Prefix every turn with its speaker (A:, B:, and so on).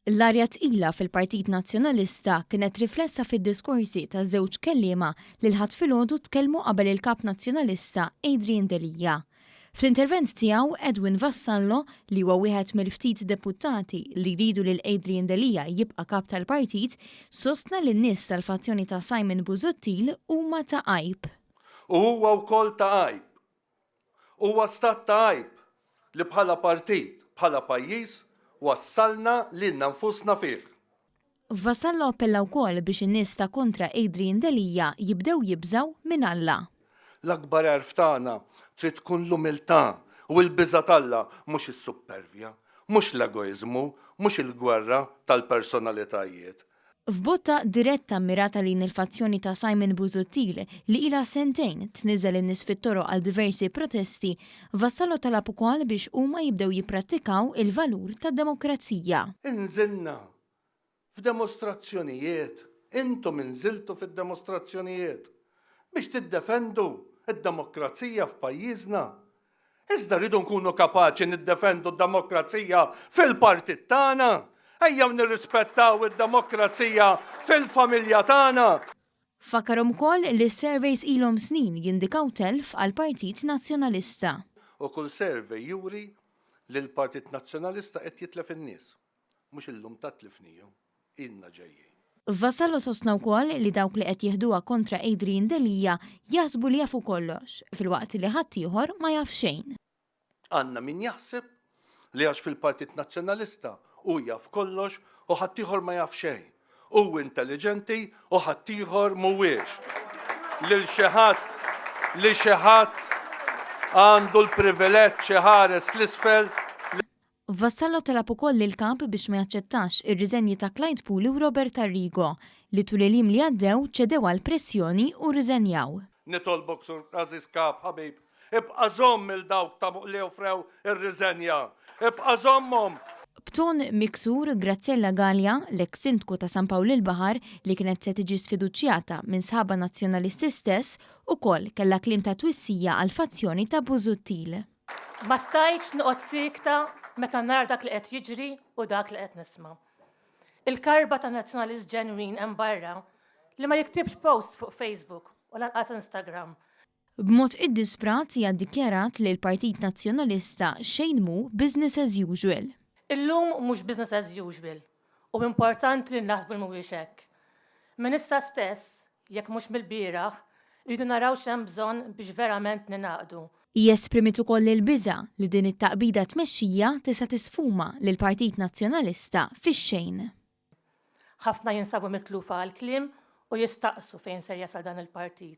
A: L-arja tqila fil-Partit Nazzjonalista kienet riflessa fid-diskorsi ta' żewġ kelliema li l-Ħadd filgħodu tkellmu qabel il-Kap Nazzjonalista Adrian Delia. Fl-intervent tiegħu Edwin Vassallo, li huwa wieħed mill-ftit deputati li jridu lil Adrian Delia jibqa' Kap tal-Partit, sostna li n-nies tal-fazzjoni ta' Simon Busuttil huma ta' għajb. U huwa
B: wkoll ta' għajb Huwa stat ta' għajb li bħala partit, bħala pajjiż, wassalna lilna nfusna fih. Vassallo
A: appella wkoll biex in-nies ta' kontra Adrian Delia jibdew jibżgħu minn Alla. L-akbar għerf
B: tagħna trid tkun l-umiltà u l-biża' t'Alla, mhux is-suppervja, mhux l-egoiżmu, mhux il-gwerra tal-personalitajiet. F'botta
A: diretta mmirata lejn il-fazzjoni ta' Simon Busuttil li ilha sentejn tniżżel in-nies fit-toroq għal diversi protesti, Vassallo talab ukoll biex huma jibdew jipprattikaw il-valur tad-demokrazija. Inżilna
B: f'demostrazzjonijiet, intom inżiltu fid-demostrazzjonijiet biex tiddefendu d-demokrazija f'pajjiżna, Iżda rridu nkunu kapaċi niddefendu d-demokrazija fil-partit tagħna. Ejjew nirrispettaw id-demokrazija fil-familja tagħna. Fakkar
A: ukoll li s-surveys ilhom snin jindikaw telf għall-Partit Nazzjonalista. U kull
B: survey juri li l-Partit Nazzjonalista qed jitlef in-nies. Mhux illum tant tlifnihom, ilna ġejjin. Vassallo sostna
A: wkoll li dawk li qed jieħduha kontra Adrian Delia jaħsbu li jafu kollox, filwaqt li ħaddieħor ma jaf xejn. Għandna min
B: jaħseb li għax fil-Partit Nazzjonalista hu jaf kollox u ħaddieħor ma jaf xejn, hu intelliġenti u ħaddieħor mhuwiex, lil xi ħadd li xi ħadd għandu l-privileġġ iħares 'l isfel, li.
A: Vassallo talab ukoll lill-kap biex ma jaċċettax ir-riżenji ta' Clyde Puli u Robert Arrigo, li tul il-jiem li għaddew ċedew għall-pressjoni u rriżenjaw. Nitolbok Sur
B: għażiż Kap ħabib, ibqa' żomm lil dawk ta' li offrew ir-riżenja. Ibqa' żommhom! B'ton
A: miksur, Graziella Galea, l-eks Sindku ta' San Pawl il-Baħar, li kienet se tiġi sfiduċjata minn sħabha Nazzjonalisti stess, ukoll kellha kliem ta' twissija għall-fazzjoni ta' Busuttil. Ma stajtx
C: noqgħod siekta meta nara dak li qed jiġri u dak li qed nisma'. Il-karba ta' Nazzjonalist ġenwin hemm barra li ma jiktibx post fuq Facebook u lanqas Instagram. B'mod
A: iddisprat hija ddikjarat li l-Partit Nazzjonalista xejn mhu business as usual. Illum mhux
C: business as usual. U importanti li naħsbu li mhuwiex hekk. Minn issa stess, jekk mhux mill-bieraħ, irridu naraw x'hemm bżonn biex verament ningħaqdu. Hi esprimiet ukoll
A: il-biża' li din it-taqbida tmexxija tista' tisfuma lill-Partit Nazzjonalista fix-xejn.
C: Ħafna jinsabu mitlufa għall-kliem u jistaqsu fejn ser jasal dan il-partit.